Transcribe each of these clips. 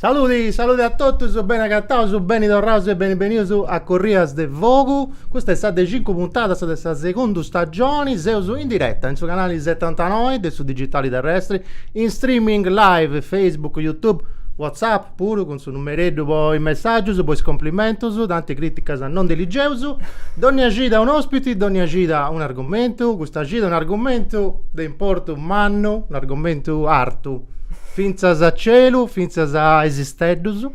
Saludi, saludi a totus, beni agataus, beni torraus e beni benius a Corrias de Fogu. Custa est sa de cincu puntadas de sa segunda stagioni. Seus in diretta in su canali 79 de su digitali terrestri, in streaming live Facebook, YouTube, WhatsApp, puru cun su numereddu po is messàgius, po is complimentus, tanti crìticas non ndi ligeus, dònnia cida un'òspiti, dònnia cida un'argumentu, custa cida un'argumentu de importu mannu, un'argumentu artu, fintzas a celu, fintzas a is isteddus,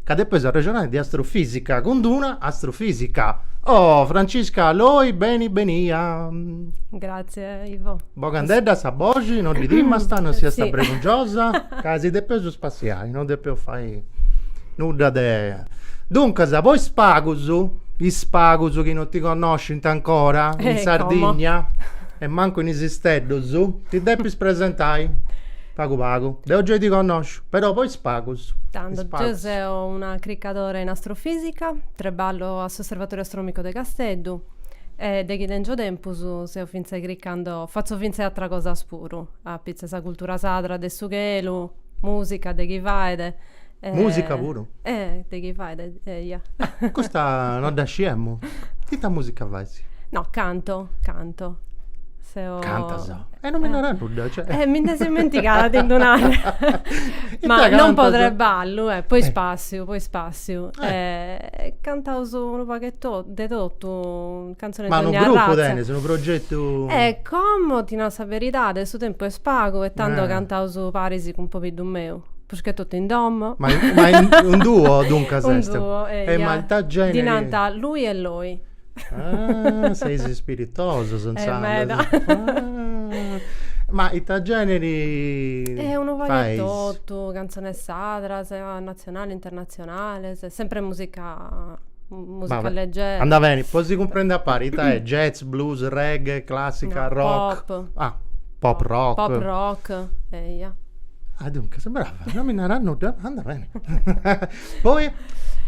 ca depeus arrexonai de astrofìsica cun d'una astrofìsica. Oh Francisca Loi beni benia! Gratzie Bogandedda sa boxi no ddi timast, no siast bregungiosa, ca si depeus spassiai no depeus fai nudda de. Duncas, po is pagus, is pagus chi no ti connoscint ancora in Sardigna e mancu in is isteddus, ti depis presentai, pagu pagu. Deu gei ti connosciu, però po is pagus. Tando, deu seu una cricadora in astrofisica, trebballo a s'Osservatoriu Astronomicu de Casteddu. E de chi tengio tempus seu fintzes cricando, fatzo fintzes atras cosas puru, apitze sa cultura sadra de su chelu, musica de chi fait e. Musica puru? Eh de chi fait eia. Custa no dda sciemu. Ita musica faisi? No, canto, canto. Seu. Cantas? E non mi naras nudda, cioè. Eh mi ndi seu ismentigada a ti ddu nai. Ita cantas? Ma non po trebballu, eh, po ispassiu, po ispassiu. Màrtziu. Eh. Cantaus unu pagu 'e totu, de totu, cantzones de dogna arratzia. Ma unu grupu tenes, unu progetu? Eh, como, ti nao sa beridadi, su tempus est pagu e tando cantaus paris cun pobiddu meu, prus che totu in domo. Ma unu duo duncas est? Un duo, eia. E ma ita generi? Ddi nant Lui e Loi. Ah, seis ispiritosos, eh, intzandus. Eh, meda. Ah. Ma ita generi Eh, unu pagu e totu, cantzones sadras, natzionales, internatzionales, sempre musica musica leggera. Andat beni, po si cumprendi a pari, ita est? Jazz, blues, reggae, classica, rock? Pop. Ah Pop rock. Pop rock, eia. Ah, duncas, brava, non mi naras nudda, andat beni. Poi,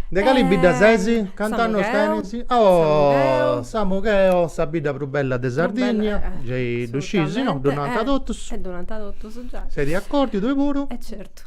de cali eh, bidda sesi? Cant'annos tenis? Oh, Samugheo, sa bidda prus bella de Sardigna, gei ddu sciis, no, ddu nant totus. E ddu nant totus, giai. Ses de acordiu, tui puru? E certu.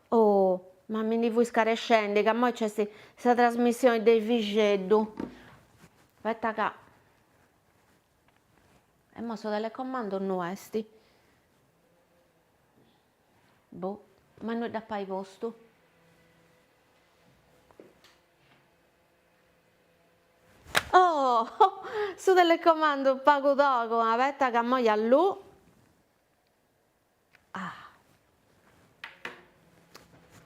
Oh, ma mi ndi fui scarescendi ca moi nc'est sa trasmissioni de Efixeddu. Aspetta ca. E mo su telecomando innui esti. Boh, ma innui dd'ap'ai postu. Oh, su telecomando pagu togu, aspetta ca moi alluu. Ah!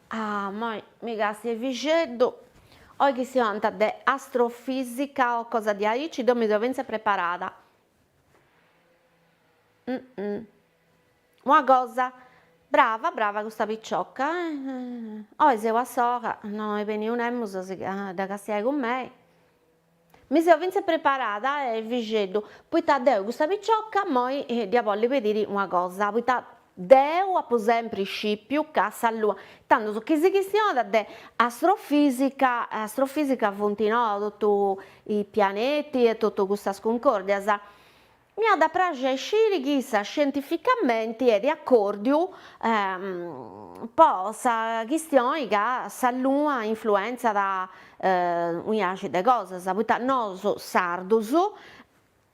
Ah! Moi mi càstiu Efixeddu, oi chistionant de astrofisica o cosa diaici, deu mi seu fintzas preparada. Una cosa, brava, brava custa picioca, oi seu a sola, no est bènniu nemus a si dda castiai cun mei. Mi seu fintzas preparada, Efixeddu, poita deu custa picioca moi dd'ia bolli pediri una cosa, poita deu apu sempri scipiu ca sa lua, tandus chi si chistionat de astrofisica, astrofisica funt no totu is pianeti e totu custas cuncòrdias, Mi at a praxi a sciri chi issa scientificamenti est de accordiu po sa chistioni ca sa luna influenzat unu biaxi de cosas, poita nos sardus,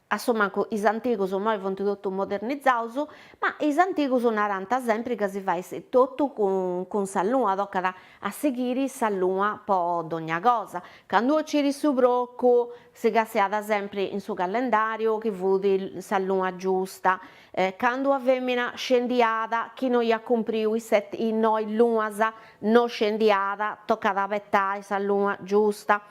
a su mancu is antigus, imoi funt totus modernizaus, ma is antigus narànt sempri ca si fait totu cun sa luna, tocat a sighiri sa luna po dogna cosa, candu 'ociri su procu Si castiat sempri in su callendàriu chi fut sa luna giusta, candu sa fèmina scendiat chi no iat cumpriu is noi lunas, no scendiat, tocat aspetai sa luna giusta.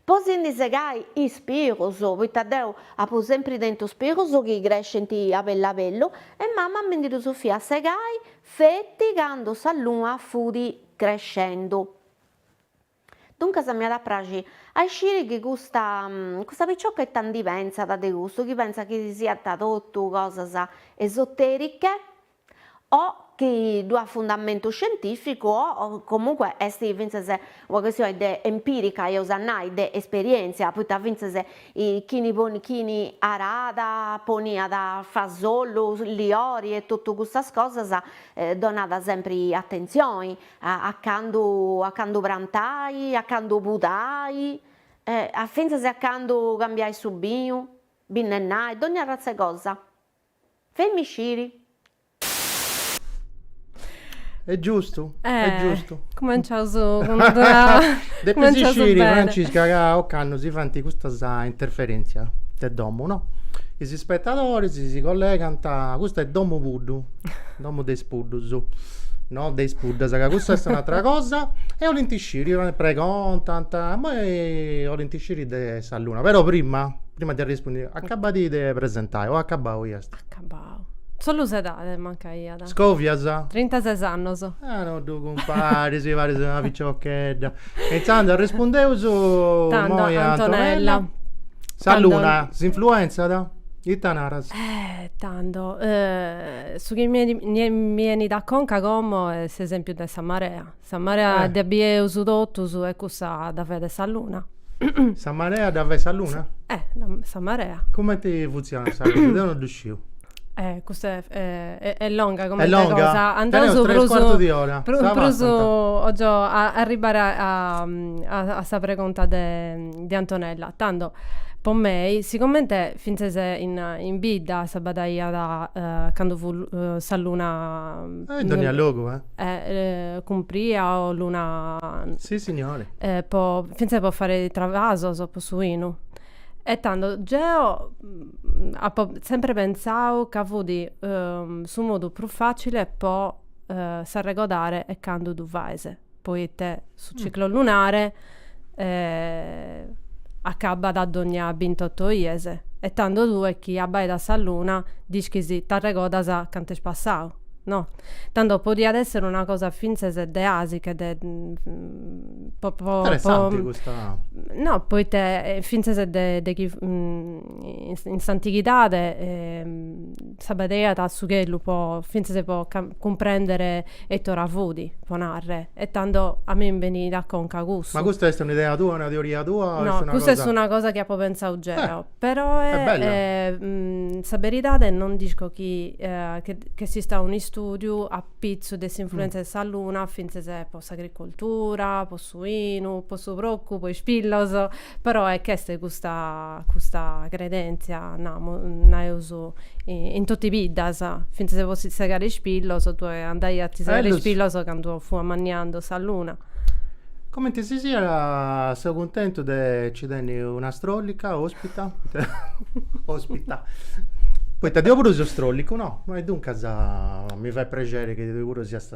Po si ndi segai is pilus, poita deu apu sempri tentu is pilus chi crescint a bellu a bellu, e mama mi ndi ddus fiat segai feti candu sa luna fut crescendu. Duncas mi at a praxi a isciri chi custa custa piciocca ita ndi pensat de custu, chi pensat chi siant totu cosas esoteriche o chi ddu at fundamentu scientificu o comunque est fintzas una questione de empirica eus a nai de esperientzia, poita fintzas chini chini aràt poniat fasollu, liori e totu custas cosas donàt sempri atentzioni a candu a candu prantai, a candu pudai, e a fintzas a candu cambiai su binu, binnennai, dogna arratza 'e cosa. Faimì sciri. Est giustu, est giustu. Eh, cumenciaus cund una Depis sciri, Francisca, ca ocannu si faint custas interferentzias de domu, no? Is ispetadoris si collegant, custa est domu Puddu. Domo de is puddus. No de is puddas, ca cussa est un'atra cosa. E 'olint sciri, ca pregontant, immoi 'olint sciri de sa luna. Però prima, prima de arrispundi, acabadi de presentai o acabau iast? Acabau. Solu s'edadi mancaiat. Scovias? Trintases annus. Ah no ddu cumparis, paris una piciochedda. E intzandus arrispundeus Tando a Antonella. Sa luna s'influenzat? Ita naras? Eh tando Su chi mi 'enit a conca como est s'esempiu de sa marea. Sa marea dda bieus totus e cussa dda faet sa luna. Sa marea dda fait sa luna? Eh, sa marea. Cumenti funtzionat sa cosa? Deu no ddu sciu. Eh, custa est longa cumenti cosa. Est longa? Andaus prus. Tres cuartu di ora. Prus, prus, 'ogio arribare a sa pregunta de de Antonella, tando, po mei, sicomente fintzes in bidda s'abbadaiat cando fut sa luna. Ah, in dogna logu, eh. Eh, cumpria o luna. Sissignori. Po, fintzes po faer travasos po su 'inu. E tando, geo apo sempre pentzau ca fut su modu prus facile po s'arregodare 'e cando ddu faes. Poite su ciclo lunare acabat a dogna bintoto 'ies e tando tue chi abaidas sa luna dd'ischis ti arregodas cantu est passau, no? Tando podiat esser una cosa fintzes deasiche de po po po Interessante custa No, poite fintzes de de chi in s'antighidade s'abadeiat a su chelu po fintzas po cumprendere ite ora fudi po narrer e tando a mie mi benit a conca custu. Ma custa est un'idea tua, una teoria tua o est una cosa. No, custa est una cosa chi apo pentzau geo, peroe sa beridade non dd'isco chi ch'esistat un'istudiu apitzus de s'influenza de sa luna fintzas po s'agricoltura po su 'inu, po su procu, po is pilos, però e ch'est custa custa credentzia, namu, nareus, in totu is biddas, fintzas po si segare is pilos, tue andaias a ti segare is pilos candu fut ammanniando sa luna. Comenti si siat seu cuntentu de ci tenni una strollica ospita ospita poita deu puru seu strollicu no e duncas mi fait prexeri chi tui puru siast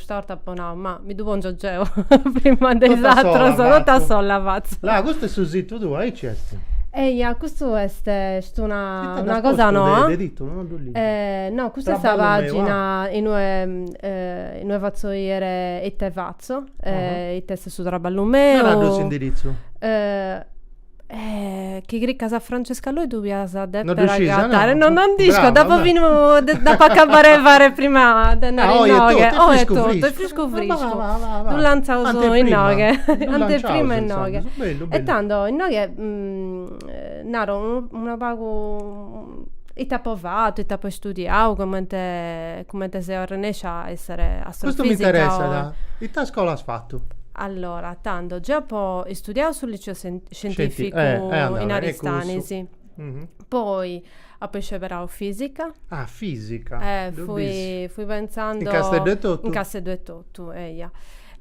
'Sta 'orta apo nau, ma mi ddu pongio geo prima de is atrus, totu a sola fatzo. Là, custu est su situ tuu, aici est? Eia, custu est est una una cosa noa. De titulu, no ddu ligi. No, custa est sa pagina in ue in ue fatzo 'iere ite fatzo, ite est su traballu meu. Dda ddu est s'indiritzu? Eh, chi cricas a Francesca Loi tu pias a deper non riuscisa, agattare. No, no, non nd'isco, d'apo finu, d'apo acabbare de fare prima de andare ah, inoghe. Oh, è tutto, è frisco frisco. Lu lanzaus inoghe, anteprima inoghe. E tanto, inoghe, naro, una pagu... ita apo fatu, ita apo istudiau, comente comente seu arrennescia a essere astrofisica. Custu m'interessat, ita iscola as fatu? Allora, tando, geu apo istudiau su liceo scientificu in Aristanis, poi apo isceberau fisica, fui fui pensando, in Casteddu etotu? Tu, eja.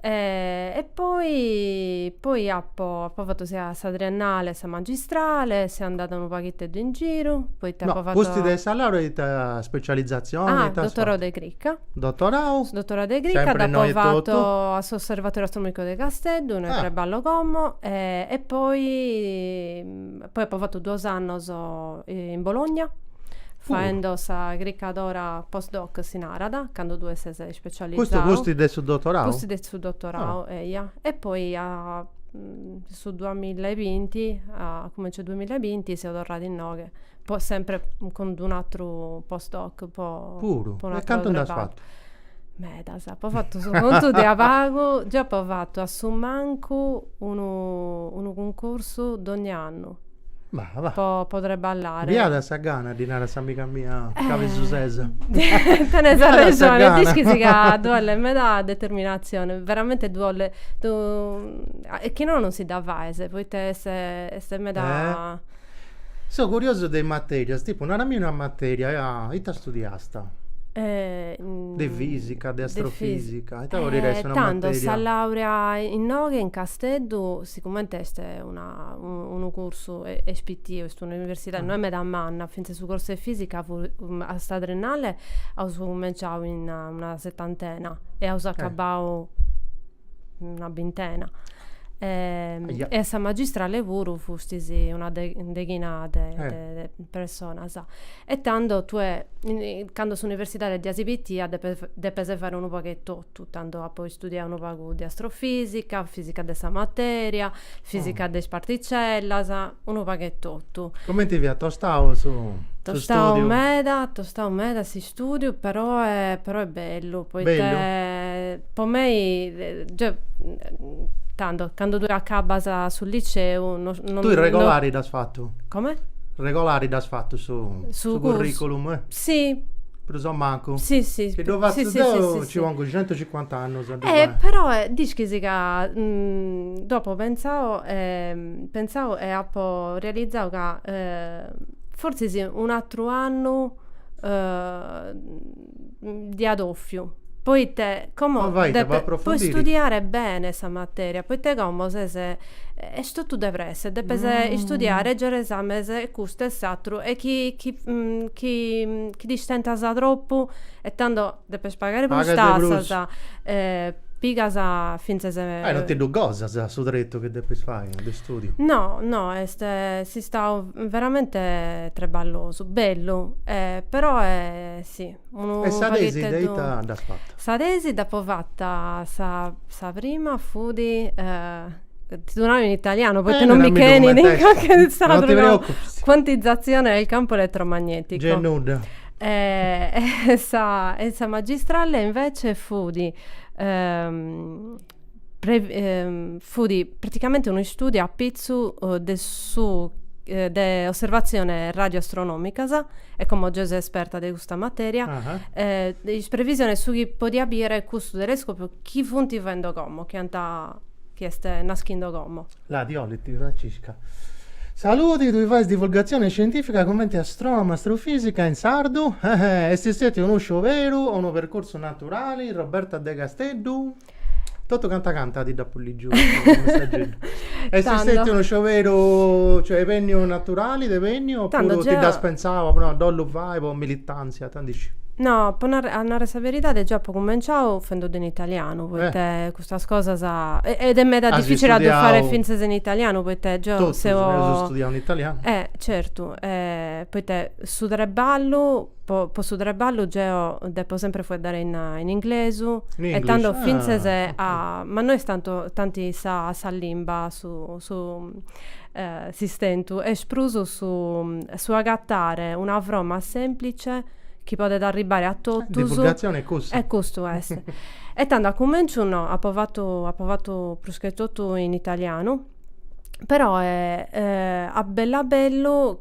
E, e poi, poi apo, apo fatu sia sa triennale e sa magistrale, seu andada unu paghetteddu in giru, poita apo fatu. No, pustis de sa laurea ita specializzazioni ita as fatu? Ah, dottorau de crica. Dottorau. Su dottorau de crica. Sempre innoi etotu. Dd'apo fatu a s'Osservatorio Astronomico de Casteddu, inue treballo como, e poi Poi apo fatu duos annos in Bologna faendo sa cricadora post doc si narat, cando tue ses ispecializau. Custu pustis de su dotorau? Pustis de su dotorau, eia. E poi su duamilla e binti, a cumenzu 'e duamilla e binti seu torrada inoghe po sempre cun d'unu atru post doc po. Puru? E cantu nd'as fatu? Medas, apo fatu su contu de a pagu, geu apo fatu a su mancu unu unu cuncursu dogna annu po po treballare. Biada sa gana, ddi narat s'amiga mia cabesusesa. Tenes arrexone, dd'ischis ca ddu 'olet meda determinatzione, veramenti ddu 'olet, e chi no non si dda faes, poita est est meda Seu curiosu de is matèrias, tipu naramì una matèria, ita studiasta? De fìsica, de astrofìsica, ita podit essi una matèria? Tando, sa làurea inoghe in Casteddu sigumente est una unu cursu est pitiu, est un'universidade, no est meda manna, fintzas su cursu 'e fìsica a sa triennale aus cumenciau in una setantena e aus acabau una bintena e, e a sa magistrale puru fustis una de, deghina de, eh. de, de personas. E tando tue, cando s'universidade diasi pitia, depes, depes fare unu pagu 'e totu, tando apo istudiau unu pagu de astrofisica, fisica de sa materia, fisica de is particellas, unu pagu 'e totu. Cumenti fiat tostau su, su studiu? Tostau meda, tostau meda si Studiu però però est bellu poita po mei deu tando cando tui acabbas su liceu no no tui regolari dd'as fatu come? regolari dd'as fatu su su curriculum si prus o mancu sì sì chi ddu fatzu deu ci pongu centucincuant'annus e però dd'ischis ca dd'apo pentzau pentzau e apo realizau ca fortzis un'atru annu ddi 'at ofiu poite como po istudiare bene sa materia poite como ses est totu de presse e depes istudiare e giare esames e custu e s'àteru e chi ti istentas tropu e tando Depes pagare prus Pagas de prus. tassas, pigas, fintzas e. Ah, e non ti ddu gosas su tretu chi depis fai de stùdiu? No, no, est istau veramente treballosu, bellu, però si, unu pagu. E sa tesi ite inue dd'as fata? Sa tesi dd'apu fata, sa sa prima fut, ti ddu nau in italianu poita non mi benit in sardu. Non ti preocupis. Quantizzazione del campo elettromagnetico. Gei nudda. E sa, e sa magistrale invece fut, fut praticamente unu istudiu apitzu de su de osservatzione radioastronomicas e como giai ses esperta de custa materia de is previsiones su chi podiat biere cussu telescopiu chi funt faendo como, chi ant, chi est naschindo como La', ddi 'olit. Francisca. Saludi, tui fais divulgazione scientifica cumenti astronoma astrofisica in sardu? Eheh, est stetiu unu scioberu o unu percursu naturali, Roberta de Casteddu? Totu canta canta ti dd'apu ligiu su messageddu. Est Tando. stetiu unu scioberu, cioè est benniu naturali, t'est benniu, Tando oppuru ti dd'as pentzau, as nau, ddo 'ollu fai po militanzia, tandisciu. No, po narrer- a narrer sa beridadi geu apu cumenciau fendeddu in italianu, poite Custas cosas ed est meda dificili a ddu fare fintzas in italianu poite geo seu. Totus eus studiau in italianu. Eh certu poite su treballu po po su treballu geo depo sempri fueddare in in inglesu e tando fintzas a ma no est tanti tanti sa sa limba su su S'istentu est prus su agatare una froma sèmplice chi podet arribare a totus. Divulgatzione est cussa. E custu est. E tando a cumenciu no, apo fatu apo fatu pruschetotu in italianu, però a bellu a bellu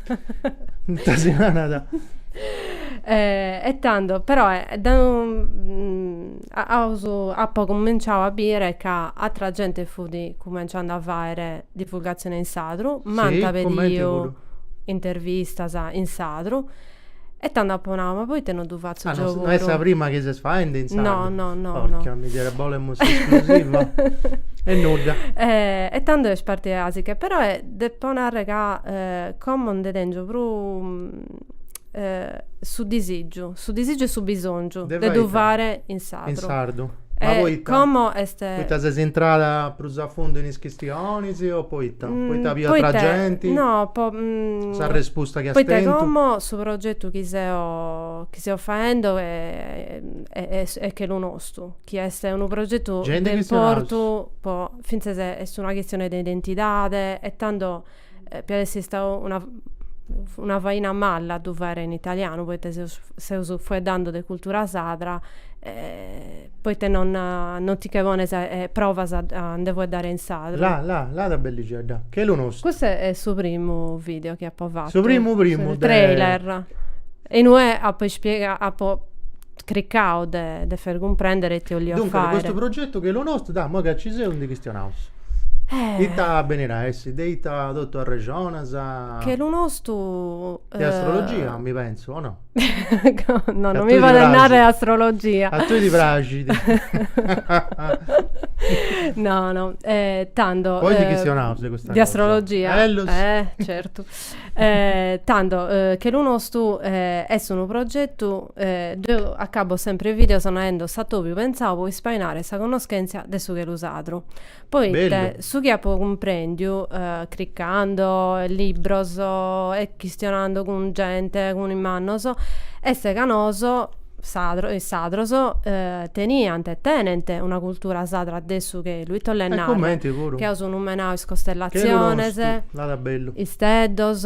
Nta si nanat. E tando, però, da aus, apo cuminciau a bìdere ca àtera gente fut cumenciando a fàere divulgatzione in sardu, m'ant pediu intervistas in sardu E tando apo nau, ma poite no ddu fatzu geo, no, no est sa prima chi ses faende in sardu? No, no, no. Porca miseria, bolemus s'esclusiva! e nudda. E, e tando est partida asiche, però depo narrer ca como nde tengiu prus su disigiu, su disigiu e su bisongiu de ddu fare in sardu. sardu. In sardu. Ma poita? Como est. Poita ses intrada prus a fundu in is chistionis o poita? Poita api atra genti? No, po s'arrespusta chi as tentu. Poita como su progetu chi seu chi seu faendi est Chelu Nostu, chi est unu progetu de importu po fintzas est una chistioni de identidadi e tando Piat essi istau una faina mala a ddu faere in italianu poite seus fueddando de cultura sadra poite non ti che pones e provas a nde fueddare in sadru. La la la ta bellixedda Chelu Nostu. Custu est su primu video chi apo fatu. Su primu primu de. Trailer e in ue apo ispiegau apo cricau de de faer cumprender ite 'olia fare. Duncas, de custu progetu Chelu Nostru, dà, immoi ca nci seus, ndi chistionaus. Eh. Ita benit a essi, de ita totu arrexonas a Chelu Nostu. De astrologia, mi pensu, o no? No, non mi faer narrer astrologia. A tui ti praxit. No, no, tando. Poi ndi chistionaus de custa cosa. De astrologia. Bellus. Eh, certu. Tando, Chelu Nostu est unu progetu. Deu acabo sempre videos naendo s'atobiu pensau po ispainare sa connoschentzia de su chelu sadru. Poita su chi apo cumprendiu, cricando libros e chistionando cun gente, cun is mannos, est ca nosu sadros, is sadros, teniant e tenent una cultura sadra de su chelu, ita 'ollet narrer, chi aus numenau is costellaziones, isteddos,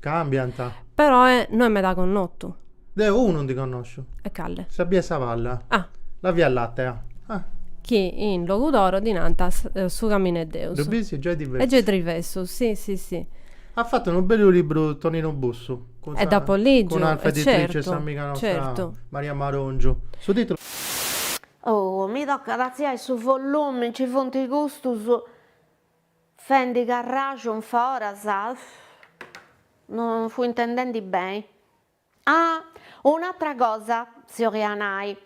Cambiant. Peroe no est meda connotu. Deo unu ndi connosciu. E cale? Sa bia 'e sa palla. Ah. La via latea. Ah. Chi in Logudoro ddi nant su caminu 'e Deus. Ddu bisi? Giai divessu. Est giai divessu, si, si, si. At fatu unu bellu libru Toninu Bussu. E dd'apo ligiu. Cun s'Alfa Editrice 'e s'amiga nostra Maria Marongiu. Su titulu. Oh, mi tocat a artziai su volumi, nci funt custus. Fendi carraxu in foras non fui intendendi beni ah un'atra cosa si 'oria nai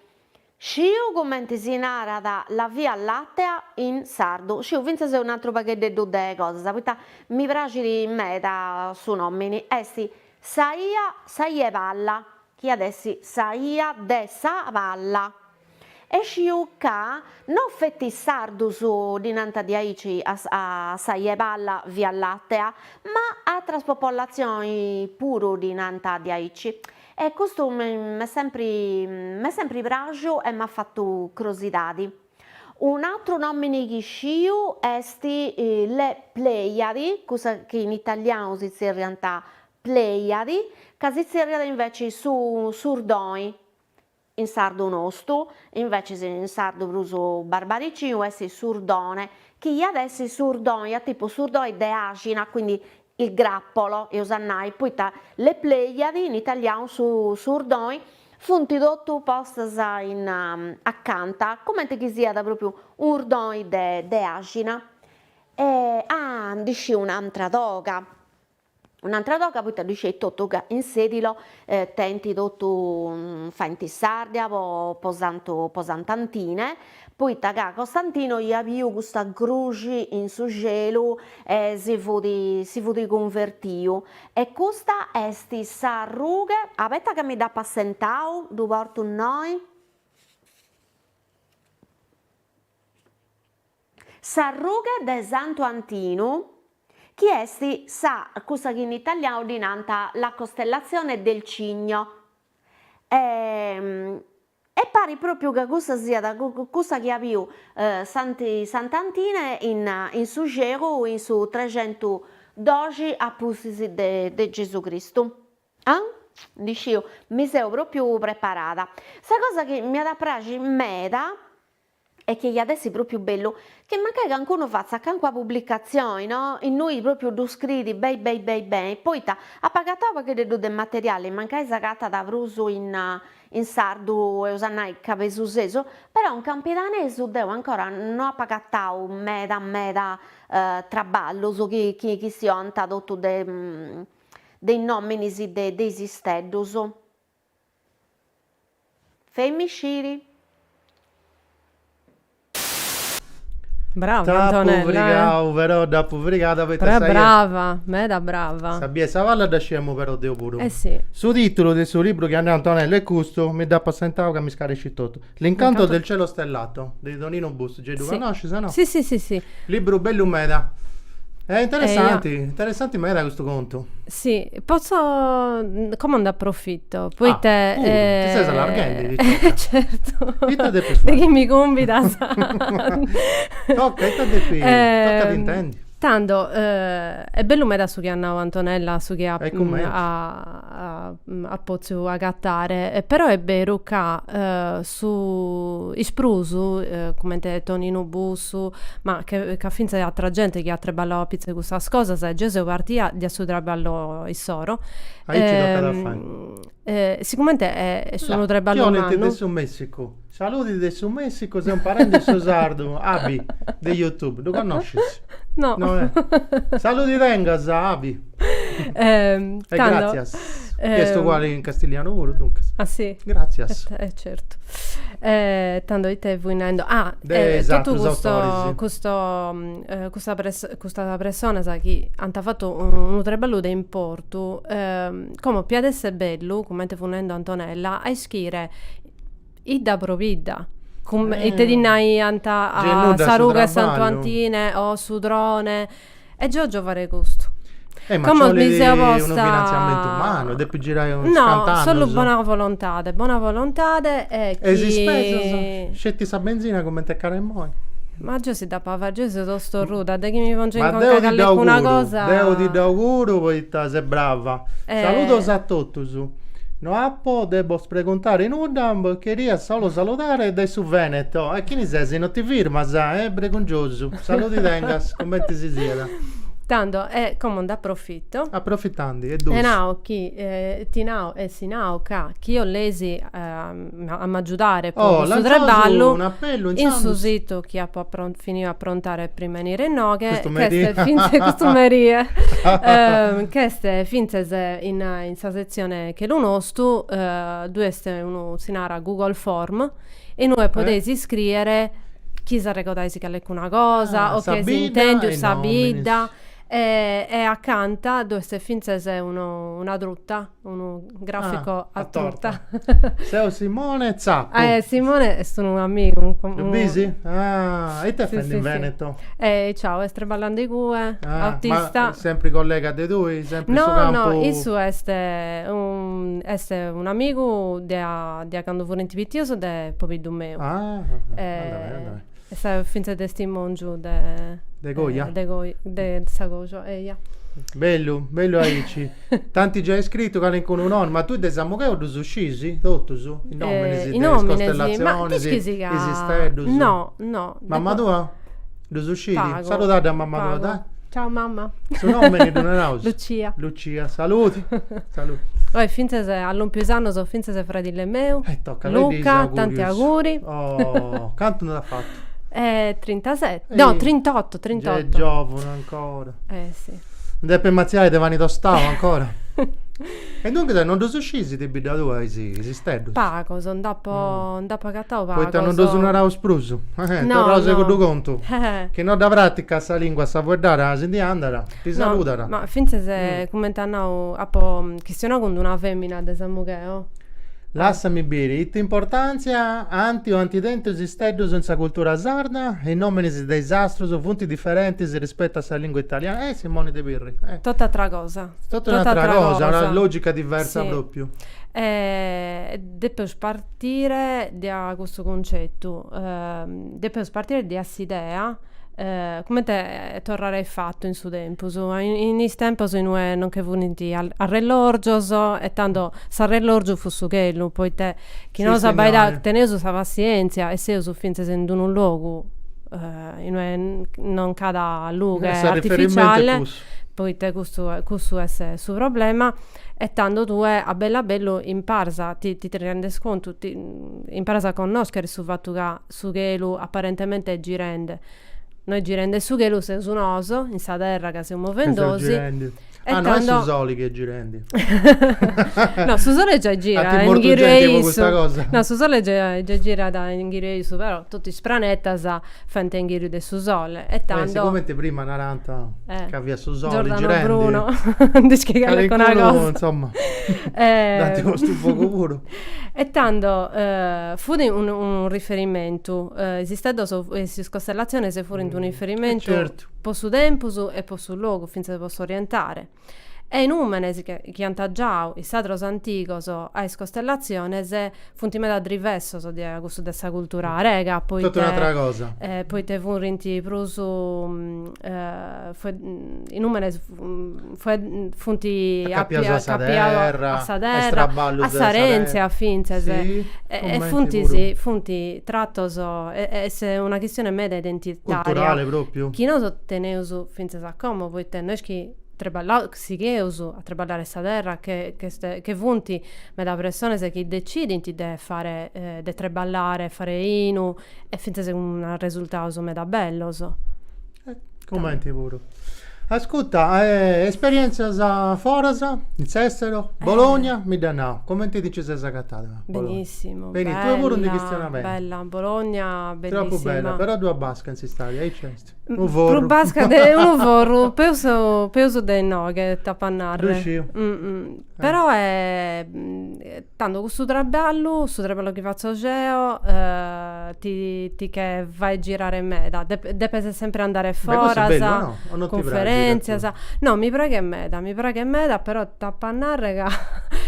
sciu cumenti si narat la via lattea in sardu sciu fintzas un'atru pagheddeddu de cosas poita mi praxit meda su nomini est sa 'ia sa 'ia 'e palla chi iat essi sa 'ia de sa palla E sciu ca no fetis sardus ddi nant a diaici a sa 'ia 'e palla, via lattea, ma atras popolatzioni puru ddi nant a diaici. E custu m'est sempri m'est sempri praxu e m'at fatu crosidadi. Un'atru nomini chi sciu est Le Pleiadi, cussa chi in italianu si tzerriant Pleiadi, ca si tzerriat inveci su 'Urdoi. In sardu nostu, inveces in sardu prus barbaricinu, est s'urdone, chi iat essi s'urdoi a tipu s'urdoi de àxina, quindi il grappolo eus a nai, poita le pleiadi, in italianu su s'urdoi, funt totu postas in acanta, cumenti chi siat pròpriu un'urdoi de àxina. E ah, ndi sciu un'antra toga. Un'antra toga poita ddu sceis totu ca in Sedilo tenint totu faint s'ardia po po santu po sant'Antine poita ca Costantino iat biu custa cruxi in su celu e si fut si fut cunvertiu e custa est sa rughe abeta ca mi dd'apo assentau ddu portu innoi Sa rughe de Santu Antinu, chi est sa cussa chi in italianu ddi nant la costellazione del Cigno, e e parit pròpiu ca cussa siat cussa chi at biu Santi Sant'Antine in in su xeru in su trexentudoxi a pustis de de Gesù Cristu. Ah? Ndi sciu, mi seu pròpiu preparada. Sa cosa chi m'iat a praxiri meda e chi iat essi propriu bellu chi mancai cancunu fatzat cancuna publicatzioni no innui propriu ddu scriit beni beni beni beni poita apo agatau pagheddeddu de materiali mancai s'agatat prus in in sardu eus a nai cabesusesu però in campidanesu deu ancora no apo agatau meda meda traballus chi chi chi si 'onta totu de de is nominis de de is isteddus Femmi sciri. Brava T'apo Antonella eh. frigau però dd'apo frigada poita Però sa 'ia. brava, meda brava. Sa bia 'e sa palla dda sciemu però deu puru. Eh si. Su titulu de su libru chi at nau Antonella est custu, mi dd'apo assentau ca m'iscarescit totu. L'incanto del cielo stellato de Toninu Bussu, giai ddu connoscis o no? Si si si si. Libru bellu meda. E interessanti, interessanti meda custu contu. Si, potzo, como nd'aprofito, poita. Ah, puru, ti ses allarghendi ti toca. E certu. Ita depis fai. De chi mi cumbidas. Toca, ita depis, tocat intendi. Tando, est bellu meda su chi at nau Antonella su chi at potziu agatare, però est beru ca su is prus cumenti Toninu Bussu, ma ca fintzas atra genti chi at trabballau apitzus cussas cosas e gei seu partia de su trabballu issoro, Aici tocat a fai Siguramente est unu treballu mannu. Tionent de su Messicu. Saludi de su Messicu, seu imparendi su sardu, Abi, de Youtube. Ddu connoscis? No. Saludi tengas, Abi. E gràtzias. Chi est uguali in castilianu puru, duncas. Ah si? Gràtzias. E certu. Tando ite fui narendi? Ah, e totu custu, custu, custa custa personas chi ant fatu unu treballu de importu Como p'iat esser bellu, cummente fut nendo Antonella, a ischire idda pro bidda. Cumma ite ddi naiant a sa ruga 'e Santu Antine o s'Udrone. E geo 'ògio fagher custu. Como mi seo posta. E ma nci 'olit unu finantziamentu mannu, e depis girai chini scit cant'annus. No, solu bona volontade, bona volontade e chi. E is ispesas? Sceti sa benzina cumenti est cara immoi. Ma giai Dd'apo a fai, gi seo tostorruda, de chi mi pongiu in conca callecuna cosa. Ma deu ti dd'auguru, poita ses brava. Saludos a totus. No apo de bos preguntare nudda, bos cheria solu saludare dae su Veneto. E chini ses, no ti firmas? Eh, bregungiosu. Saludi tengas, cumenti si siat. Tando, e como nd'aprofito. Aprofitandi, est giustu. E nao chi, ti nao e si nao ca chi 'oleis. a m'agiudare po su treballu in su situ chi apo finiu a aprontare prima 'e 'ènnere inoghe, custu merie, ch'est fintzes in sa setzione Chelu Nostu, ddue est unu, si narat, Google Form, e inue podeis iscrìere chi s'arregodais calicuna cosa o ch'eis intèndiu, sa bidda e acanta dd'est fintzes una truta unu grafico a torta. Seu Simone Zappu. Eh Simone est unu amigu. Ddu bisi? Ah, e ite fendi in Veneto? Eh, ciao, est treballandi igue, autista. Ma sempri collega de tui? Sempri in su campu? No, no, issu est est un'amigu de a de a candu furint pitios de pobiddu meu. Ah, andamai, andamai. Est fintzas testimòngiu de. De coja? De coja, de sa coja, eja. Bellu, bellu aici. T'ant giai scrittu calincunu nòmini, ma tui de Samugheu ddus scisi totus? Is nòminis de is costellazionis, is isteddus? No, no. Mamma tua? Ddus scidi? Pagu. Saludadda a mamma tua, dai. Ciao mamma. Su nomini ddu naraus? Lucia. Lucia, saludi. Saludi. Oe fintzes at lòmpiu is annos fintzes fradile meu. E tocat, faiddi is augurius. Luca, tanti auguri. Oh, cant'annus at fatu? Eh, trintaseti, no, trintottu, trintottu. Gei est giovunu ancora. Eh, si. Ndi depit matziai de pani tostau ancora? E duncas non ddus sciis de bidda tua is isteddus? Pagos, nd'apo nd'apo agatau pagos. Poita non ddus naraus prus? Torraus a cuddu contu, chi no dda praticat sa lingua, sa fueddada, si ndi andat, ti saludat. Ma fintzas cumenti at nau, apo chistionau cun d'una femina de Samugheo. Lassami biri, ita importantzia ant o ant tentu is isteddus in sa cultura sarda? Is nominis de is astrus funt diferentis rispettu a sa lingua italiana? Eh, Simoni de Pirri. Tot'atra cosa. Totu un'atra cosa, una logica diversa propriu. Depeus partire dea custu concettu, depeus partire dea s'idea, cumente torrare aifatu in su tempus, in is tempus in ue non nche furint arrellorgios e tando s'arrellorgiu fut su chelu, poita chi nosu abbaidaus, teneus sa passientzia e seus fintzas in d'unu logu in ue non nc'at lughe artificiale Poite custu cussu est su problema e tando tue a bellu a bellu imparas ti ti rendes contu imparas a connòschere su fatu ca su chelu apparentemente est girende no est girende su chelu seus nosu in sa terra ca seus movendosi e tando no est su soli chi est girende no su sole già gira e inghiru 'e issu no su sole già girat inghiru 'e issu però totu is pranetas Fent inghiru de su sole e tando. E sigomente prima narant ca fiat su sole girendi. Giordano Bruno, ndi scit calincuna cosa. Calincunu, insomma, dd'ant postu in fogu puru. E tando fut unu riferimentu, is isteddos, is costellatziones furint unu riferimentu po su tempus e po su logu, fintzas po s'orientare. e is nùmenes chi ant giau is sadros antigos a is costellatziones funt meda drivessos dea cussu de sa cultura arega poita furint prus is nùmenes funt acapiados a sa terra a s'arèntzia fintzas e funt tratos est una chistione meda identitaria chi nosu teneus fintzas Como, poita no est chi treballaus, sigheus a treballare sa terra, che ch'est, che funt meda pressones chi decidint de fare, de treballare e fare 'inu e fintzas cun arresultados meda bellos. Cumenti puru. Ascuta, esperièntzias foras, in s'èsteru, Bologna, mi dd'as nau, cumenti ti nci ses agatada? Benissimu, bella, bella, Bologna bellissima. Tropu bella, però ddu at basca in s'istadi, aici est. Prus basca de unu forru, peus peus de inoghe t'apo a narrer. Ddu isciu. Però tando cussu traballu, su traballu chi fatzo geo ti ti che fait girare meda, depes sempre andare foras. Beh custu est bellu o no? O non ti praxit a tui? Cunferentzias. No, mi praghet meda, mi praghet meda, però t'apo a narrer ca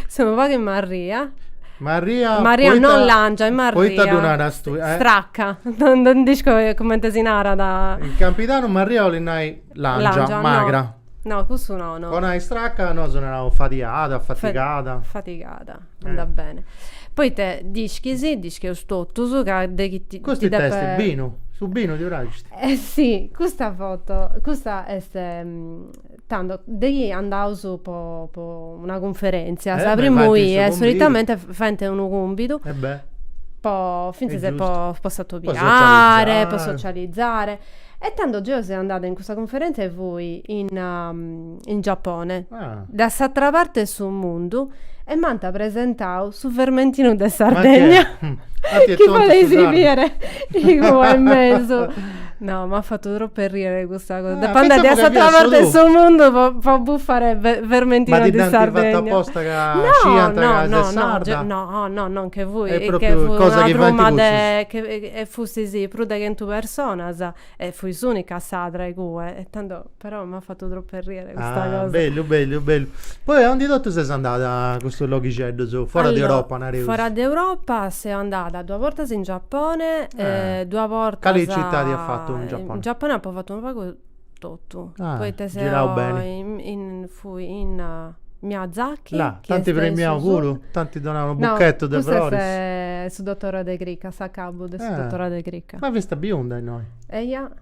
seu unu pagu marria Marria, marria poita, non langia, e marria poita ddu naras tui? Eh? Stracca, non, non dd'isco comente si narat. In campidanu marria 'olit nai langia, langia magra. No. No, custu no, no. Po nai stracca nosu naraus fadiada, fatigada. Fa fatigada, eh. andat bene. Poita d'ischis, dd'ischius totus ca de chi ti Custu ita est, binu? Su binu ti praxit? Eh si, custa foto, custa est Tando, de chi andaus po po una cunferèntzia, sa primu 'ie solitamente faint unu cumbidu po fintzas po po s'atobiare, po socializare. E tando geu seu andada in custa cunferèntzia e fui in in Giapone, de a s'atera parti 'e su mundu e m'ant presentau su vermentinu de Sardegna, chi fadeis bider igue in mesu No, m'at fatu tropu 'e rìere custa cosa. Depo andare a s'atra parte 'e su mundu po bufare vermentinu de Sardegna. Ma ti dd'ant fatu aposta ca sciant ca ses sarda? No, no, no, non che fui. Nche fut una truma de gente. E fustis prus de chentu personas e fui s'ùnica sarda igue e tando Però m'at fatu tropu arriere custa cosa. Ah, bellu, bellu, bellu. Poi a undi totu ses andada custus loghixeddus, fora de Europa, nareus? Fora de Europa seu andada duas bortas in Giappone e duas bortas. Cali citadi as fatu in Giappone? In Giappone apu fatu unu pagu totu, poita seu. Girau beni. Fui in Miyazaki. Là, t'ant premiau puru? T'ant donau unu buchetu de froris? No, custu est su dottoradu 'e cricca, s'acabu de su dottoradu 'e cricca. Ma fiast biunda innoi. Eia.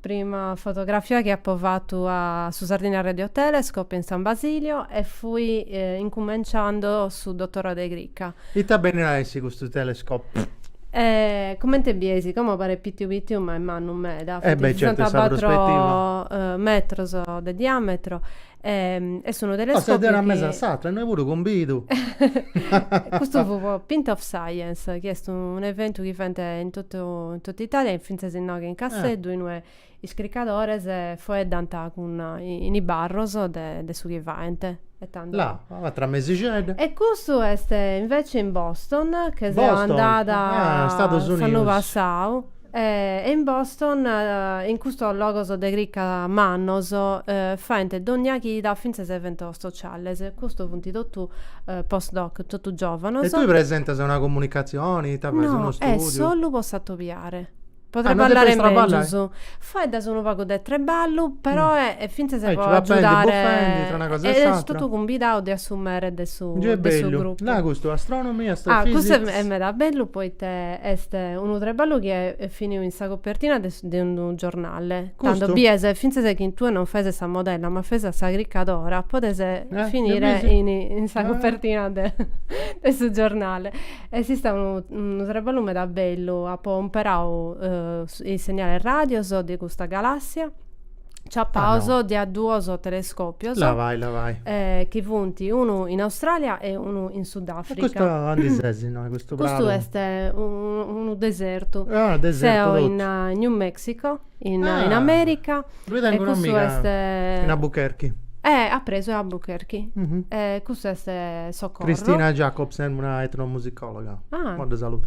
Prima fotografia chi apo fatu a su Sardinia Radio Telescope in San Basilio e fui incumenciando su dottorado 'e crica. Ita benit a essi custu telescope? E comente bies, como paret pitiu pitiu ma est mannu meda, funt sessantacuatro metros de diametro Est unu telescòpiu chi. Una mesa a s'atra, innoi puru cumbidu. Custu fut po Pint of Science, chi est un'eventu chi faent in in totu Italia e fintzas inoghe in Casteddu, in ue is cricadores faeddant cun in is barros de de su chi faent. E tando. Là, un'atra mesixedda. E custu est invece in Boston, che seu andada. Boston, ah, Stados Unidos. S'annu passau. E in Boston, in custos logos de crica mannos, faent dònnia chida fintzas eventos sociales. Custos funt totu post-doc, totu giòvanos. E tue presentas una comunicatzione, ite faes, unu istùdiu? No, est solu po s'atobiare. Podrei ballare mègius. Faeddas unu pagu de treballu, peroe fintzas po agiudare. Bufendi una cosa e s'àtera. E est totu cumbidau de assumere de su grupu. Gei est bellu. Custu astronomy, astrofisics. Custu est meda bellu poite est. Unu treballu chi est finiu in sa copertina de unu giornale. Tando bies fintzas chi si tue non faes sa modella ma faes sa cricadora podes finire in sa copertina de su giornale. Est istau unu treballu meda bellu, apo imparau is segnales radios de custa galassia. ciapaos dae duos telescòpios. Là vai, là vai. Eh, chi funt unu in Austràlia e unu in Sudàfrica. E custu andi ses innoi, custu pradu? Custu est unu desertu. Ah, desertu totu. Seo in New Mexico, in ah, in Amèrica. Ddoi tengu un'amiga est... in Albuquerque. Eh, apresu 'e Albuquerque. Mm -hmm. eh, custu est Socorro. Cristina Jacobsen, una etnomusicòloga. Ah. Mo dda saludu.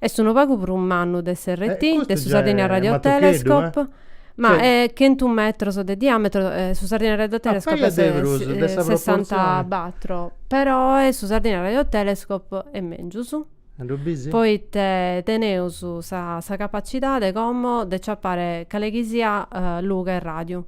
Est unu pagu prus mannu de s'RT, de su Sardinia Radio Telescope, ma est chentu metros de diàmetro, su Sardinia Radio Telescope est sessanta batro, peroe su Sardinia Radio Telescope est mègius, poite teneus sa capacidade como de ciapare cale chi siat lughe 'e ràdiu.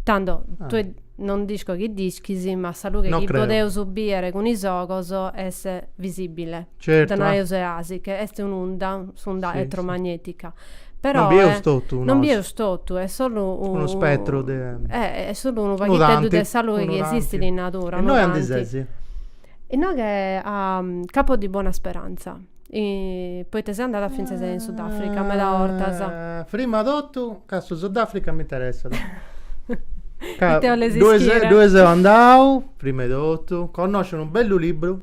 Tando tue non nd'isco chi nd'ischis, ma sa lughe chi podeus bìdere cun is ogos est visìbile. Ite naeus deasi, ca est un'unda, s'unda elettromagnetica, però, non bieus totu, non bieus totu, est solu unu spettru de, est solu unu paghiteddu de sa lughe chi esistit in natura, unu tanti. E innoi andi sesi? Inoghe a Capo di Buona Speranza, poite seo andada fintzas in Sudafrica meda 'ortas. Prima totu ca su Sudafrica m'interessat. Ite 'oles ischire? Ddue seu andau, prima 'e totu, connosciu unu bellu libru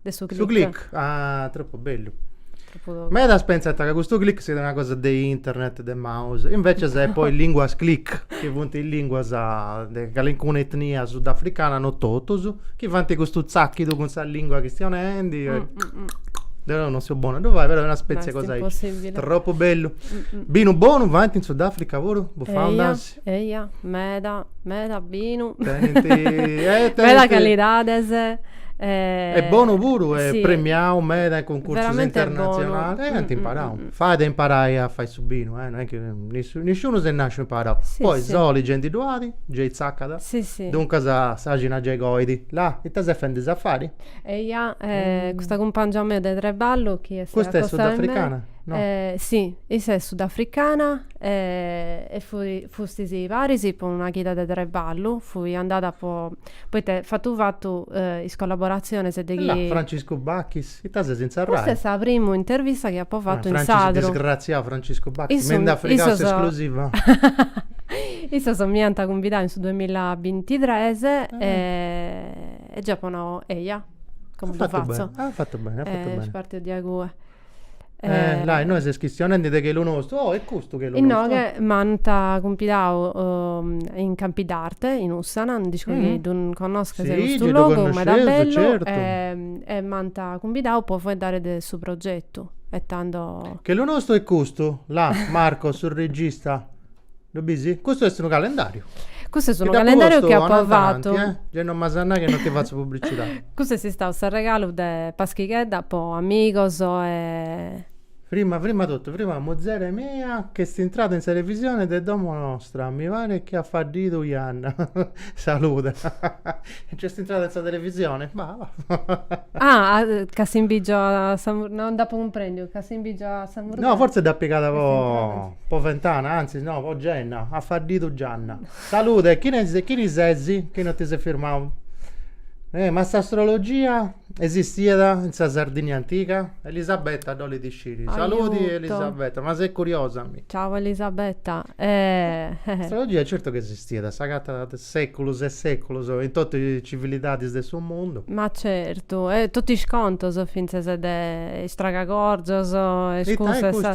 De su click. Su click, ah, tropu bellu. Medas pentzant ca custu click siat una cosa de internet, de mouse, invècias est po is linguas click, chi funt is linguas de calincuna etnia sudafricana, no totus, chi fant custu tzachidu cun sa lingua chistionendi, deu non seu bonu a ddu fai, però est una specie 'e cosa aici. Tropu bellu. Binu bonu fant in Sudafrica puru? Bufau nd'asi? Eia, meda, meda binu. Tenint meda calidades e. E bonu puru e premiau meda in cuncursus internatzionalis. E ant imparau. Fait a imparai a fai su binu, non est chi nisciunu est nàsciu imparau. Poi soli gei nci ddu at, gei tzacat. Duncas s'àxina gei coit. Là, ita ses fendi, safari? Eia, custa cumpangia mea de traballu chi est. Custa est sudafricana? No. Si, issa est sudafricana E fui, fustis paris po una chida de treballu, fui andada po, poita fatu fatu is collaboratzionis de aici. Là, Franciscu Bachis, ita ses in sa Rai? Custa est sa primu intervista chi apu fatu in sardu. Francis, disgraziau Franciscu Bachis, mi nd'at frigau s'esclusiva. Issos mi ant cumbidau in su duamilla e bintitres e gei apu nau, eia, como ddu fatzu. As fatu beni, as fatu beni, as fatu beni. Est partiu diae cue. Eh, là, innoe ses chistionende de chelu nostu. Oh, e custu chelu nostu? Innoghe m'ant cumbidau in Campidarte, in Ussana, no d'isco chi ddu connosches custu logu, meda bellu, e m'ant cumbidau po faeddare de su progetu e tando. Chelu nostu e custu, là, Marco, su regista. Lu bisi? Custu est unu calendariu. Custu est unu calendariu chi apu fatu. Gei non m'as a nai chi non ti fatzu publicidadi. Custu est istau s'arregalu de Paschighedda po amigos e. Prima prima totu, prima muzere mia chi est intrada in sa televisione de domo nostra, mi paret chi at faddidu janna. Saluda. Nc'est intrada in sa televisione? Bah, bah. Ah, ca si ndi bigio a sa. No nd'apu cumprendiu, ca si ndi bigio a sa. No, fortzis dd'at pigada po. Po ventana, antzis no, po genna, at faddidu gianna. Salude, chini sesi chi no ti ses firmau? Eh, ma s'astrologia esistiat in sa Sardigna antiga? Elisabetta dd'olit sciri. Saludi Elisabetta, ma ses curiosa mi. Ciau Elisabetta, eh. S'astrologia certu chi esistiat, s'agatat de seculus e seculus in totu is civilidadis de su mundu. Ma certu, e totu is contus fintzas de is tragagorzos e is cussu e sa.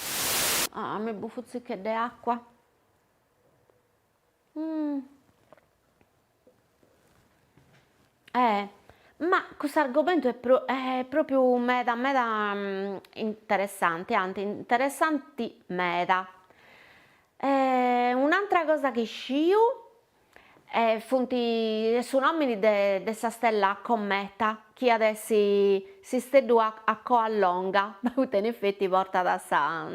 Ah, mi bufu tzicu de àcua. Mm. Eh, ma cust'argomentu est pro, eh, pròpiu meda meda mm, interessante, anti interessanti meda. E un'atra cosa chi sciu, E funt su nòmini de sa stella Cometa chi at essi s'isteddu a coa longa, poita in effetti portat sa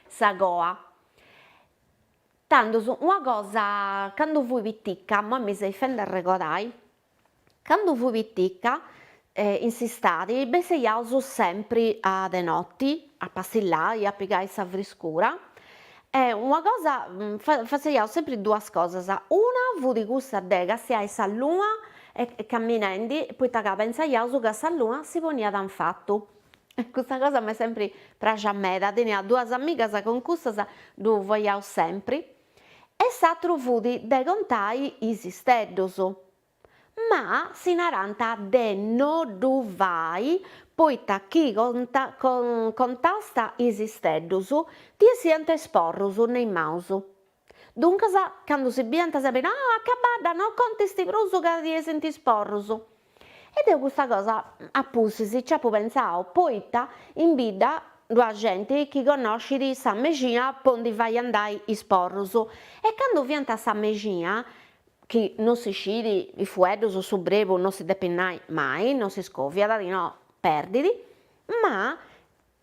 sa coa. Tandus una cosa, candu fui pitica, imoi mi seis fendi arregordai, Candu fui piticca, in s'istadi, besseiaus sempri a de noti, a passillai, a pigai sa friscura, e una cosa, faiaus sempri duas cosas, una fut cussa de castiai sa luna camminendi, poita ca pentzaiaus ca sa luna si poniat infatu, e custa cosa m'est sempri praxia meda, tenia duas amigas ca cun cussas ddu faiaus sempri, E s'atru fut de contai is isteddus. Ma si narant de no ddu fai poita chi contast is isteddus ti essiant is porrus in is manus. Duncas candu si biant sa bidda, oh, acabadda, no contist prus ca ti essint is porrus. E deu custa cosa a pustis nci apu pentzau poita in bidda ddu at genti chi connoscit sa mexina po ndi fai andai is porrus e candu faiant sa mexina, chi non si scit is fueddus o su brebu non si depit nai mai, non si scoviat, no, perdit, ma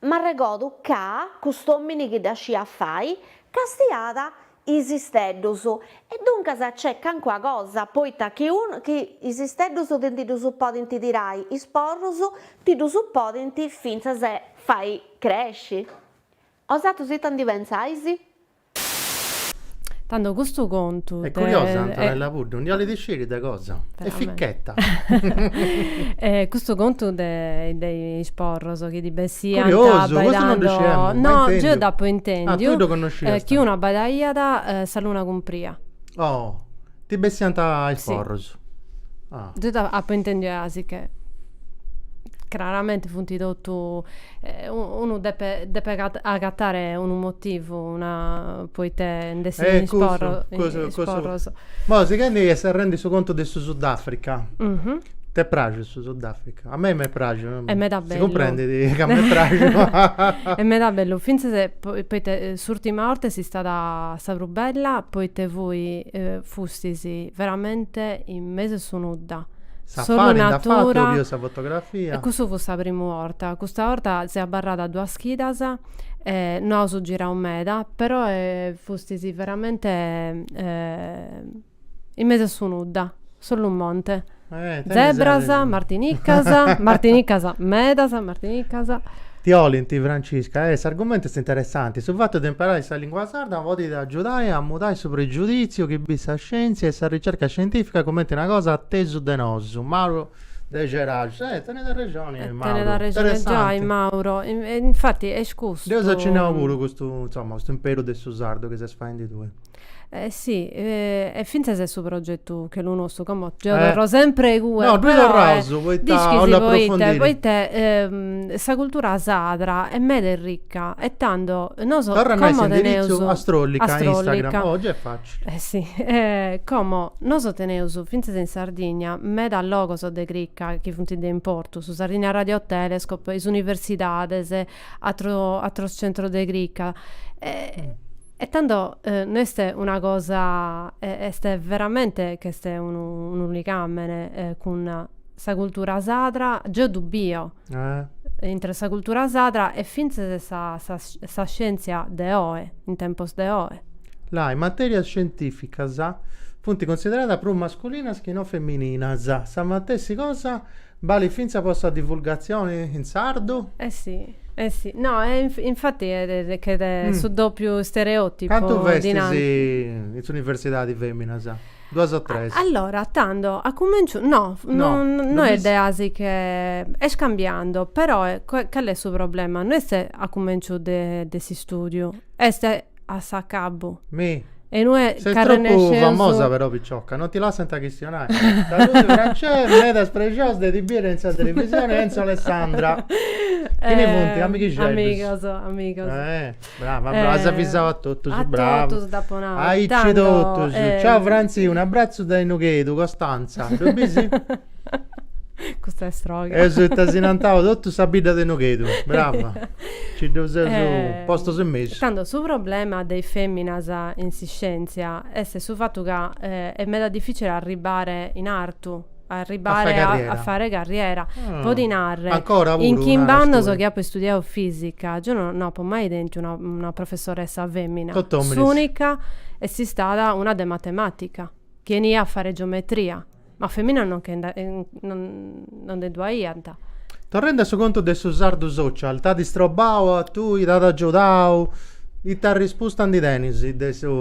M'arregodu ca cust'òmini chi dda sciat fai castiat is isteddus, e duncas nc'est cancuna cosa, poita chi chi is isteddus ti ddus podint tirai, is porrus ti ddus podint fintzas fai cresci. Osatrus ita ndi pentzais? Tando custu contu de. Est curiosa Antonella Puddu, ndi 'olit sciri de cosa? Est ficchetta. Custu contu de de is porros chi ddi bessiant abbaidandu. Curiosu, custu non ddu sciemu, mai intendiu. No, geu dd'apu intendiu. Ah, tui ddu connoscias. Chi unu abbaidaiat sa luna cumpria. Oh Ti bessiant is porros? Deu apu intendiu e asi che craramenti funt totu, unu depet depet agatare unu motivu, una, poita nd'essint is porros. Eh cusu cusu cusu. Boh, sighendi e serrendi su contu de su Sudafrica, t'est praxu su Sudafrica? A mei m'est praxu. Est meda bellu. Si cumprendit ca m'est praxu. Est meda bellu, fintzas Poita s'urtima 'orta est istada sa prus bella, poita fui, fustis veramente in mesu 'e su nudda, solu natura, e cussu fut sa primu 'orta, custa 'orta seu abarrada duas chidas e no aus girau meda, però fustis veramente In mesu a su nudda, solu monte. Eh, tenis zebras, arresu. martinicas, martinicas medas, martinicas. Ti 'olint, Francisca, e s'argumentu est interessanti. Su fatu de imparai sa lìngua sarda podit agiudai a mudai su pregiudìtziu chi bit sa scièntzia e sa ricerca scientìfica cumenti una cosa a tesu de nosu. Mauro de Ceraxus. Eh, tenet arrexoni Mauro. Tenet arrexoni giai Mauro. Infati est custu. Deu apu acennau puru custu, insoma, custu imperu de su sardu chi ses faendi tue. Eh si, e fintzas est su progetu chelu nostu, como gei torro sempre igue, no ddu torraus poita ischisti poita poita sa cultura sadra est meda e ricca e tando nosu como teneus, torra a nai s'indirizzu astrollica in Instagram, oh gei est facili, eh si como nosu teneus fintzas in Sardigna meda logos de cricca chi funt de importu, su Sardinia Radio Telescope, is universidades, atros centros de cricca E tando no est una cosa, est veramente ch'est unu unu ligàmene cun sa cultura sadra, geo ddu bio intre sa cultura sadra e fintzes sa sa sa scièntzia de oe, in tempos de oe. Là, is matèrias scientìficas funt cunsideradas prus masculinas chi no femininas, sa matessi cosa Balit fintzas po sa divulgatzioni in sardu? Eh si, eh si. No, e infati ch'est su dòpiu stereòtipu, Cantu festis in s'universidadi fèminas? Duas o tres? Allora, tando, a cumènciu, no, no, no est deasi che, est cambiando, però, cali est su problema? No est a cumènciu de s'istùdiu, est a s'acabu. Mi? E no est Ses tropu famosa però picioca, non ti lassant a chistionai. Saludos Francesca, medas prexiosa de ti biri in sa televisione Enzo Alessandra. Chini funt? Amighixeddus? Amigos, amigos. Brava, brava, as avisau a totus, brava. A totus dd'apu nau. Aici totus. Ciao Franzi, un'abbrazzu dae Nughedu, Costanza. Ddu bisi? Custa est sroga. Est ita si nantau totu sa bidda de Nughedu. Brava. Ci ddus eus postus in mesu. Tando su problema de is feminas in s'iscientzia est su fatu ca est meda dificile arribbare in artu, arribbare a fare carriera. Po ti narrer. Ancora puru. In chimb'annos chi apo istudiau fisica, geo no apo mai tentu una professoressa femina. Tot'ominis. S'unica est istada una de matematica chi 'enia a fare geometria. Ma feminas non che nde non nde ddu aiant. Torrendi a su contu de su sardu social, t'at istrobau a tui, t'at agiudau? Ita rispusta ndi tenis de su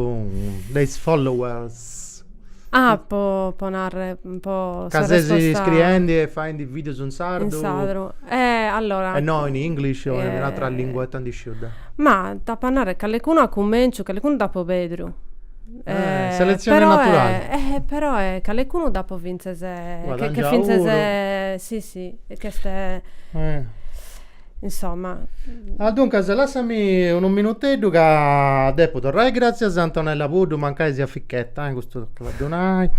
de is followers? Ah po po narrer po Ca ses scriendi e faendi videos in sardu? In sardu, eh allora. E no in English o in un'atra lingua ita ndi sciu deu? Ma t'apu a narrer callecunu a cummenciu, callecunu dd'apu pedru. Selezione naturale. Eh però eh calecunu dd'apo fintzes che fintzes si si che est insomma. Ah duncas lassami unu minuteddu ca depu torrai, gratzias a Antonella Puddu mancai siat fichetta eh custu tocat a ddu nai.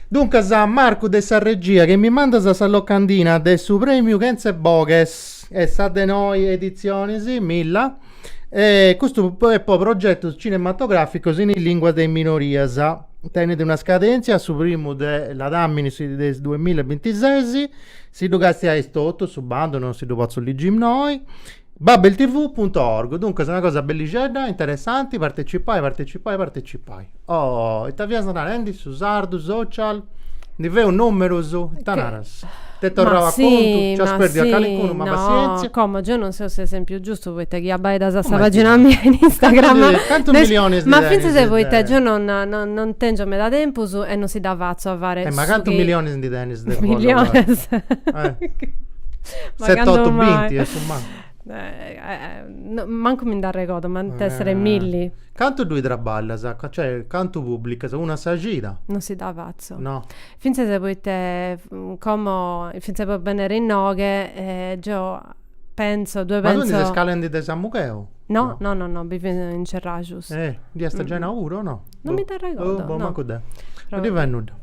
Duncas Marcu de sa regia chi mi mandas sa locandina de su premiu chentz'e boghes e sa de noi editzionis, Milla. E custu est po progetos cinematogràficos in is lìnguas de is minorias. Tenet una scadèntzia a su primu de ladàmini de is duas mille e bintises. Si ddu castiais totu, su bandu non si ddu potzu ligi innoi. Babeltv punto org, duncas una cosa bellixedda, interessanti, partecipai, partecipai, partecipai. Oh, ita fias narendi? Su sardu social? Ndi feus numerus? Ita naras? T'est torrau a contu? Nc'as perdiu a calicunu? Ma passientzia. Como, geu non seu s'esempiu giustu poita chi abbaidas sa pagina mia in Instagram. Cantu milionis ndi tenis? Ma fintzas poita geu non tengiu meda tempus e non si dda fatzu a fai su chi. Ma cantu milionis ndi tenis de follower? Milionis. Set'otu binti a su mali. mancu mi nd'arregodu, m'ant essere milli. Cantu ddui traballas? Cioè, cantu pubblicas? Una a sa cida? Non si dda fatzu. No. Fintzas poita, como, fintzas po bennere inoghe, geo pentzu, ddue pentzu. Ma tui ndi ses calendi de Samugheu? No, no, no, no, bivu in Ceraxus. Eh, dd'iast giai nau puru o no? Non mi nd'arregodu, no. Boh, mancu deu. Non ddi fait nudda.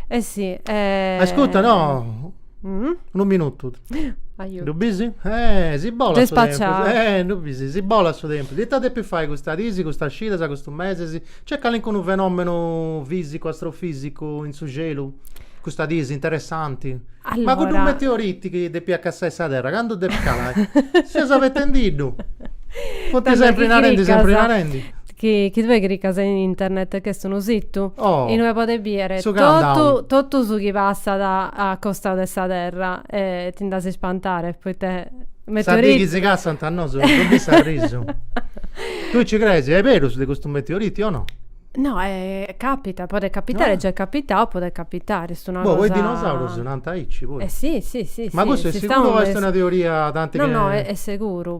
Eh si. Ascurta, no. Mm? Unu minutu. Aiuto. Ddu bis? Eh, si bolat Gei su tempus. spacciau. Eh, ddu bis, si bolat su tempus. Ita depis fai custas dis, custas cidas, custus mesis? Nc'est calincunu fenomenu fisicu, astrofisicu in su celu? Custas dis, interessanti? Ma cuddu Allora. meteoriti chi depiat cassai sa terra, candu depit calai? Seus abetendiddu. Funt Tando sempri chi narendi, sempri cricas. narendi. Chi chi tue cricas in internet ch'est unu situ Oh! inue podes bider Su totu countdown. totu su chi passat a costau de sa terra e ti nd'as a ispantare poite Sa dì chi si cassant a nosu as a bì s'arrisu. Tue nci crees est berus de custu meteoriti o no? No capitat podet capitare già è capitau podet capitare est una cosa Boh po is dinosaurus nant aici puru. Eh si si si si Ma custu est siguru o est una teoria tanti chi No no est seguru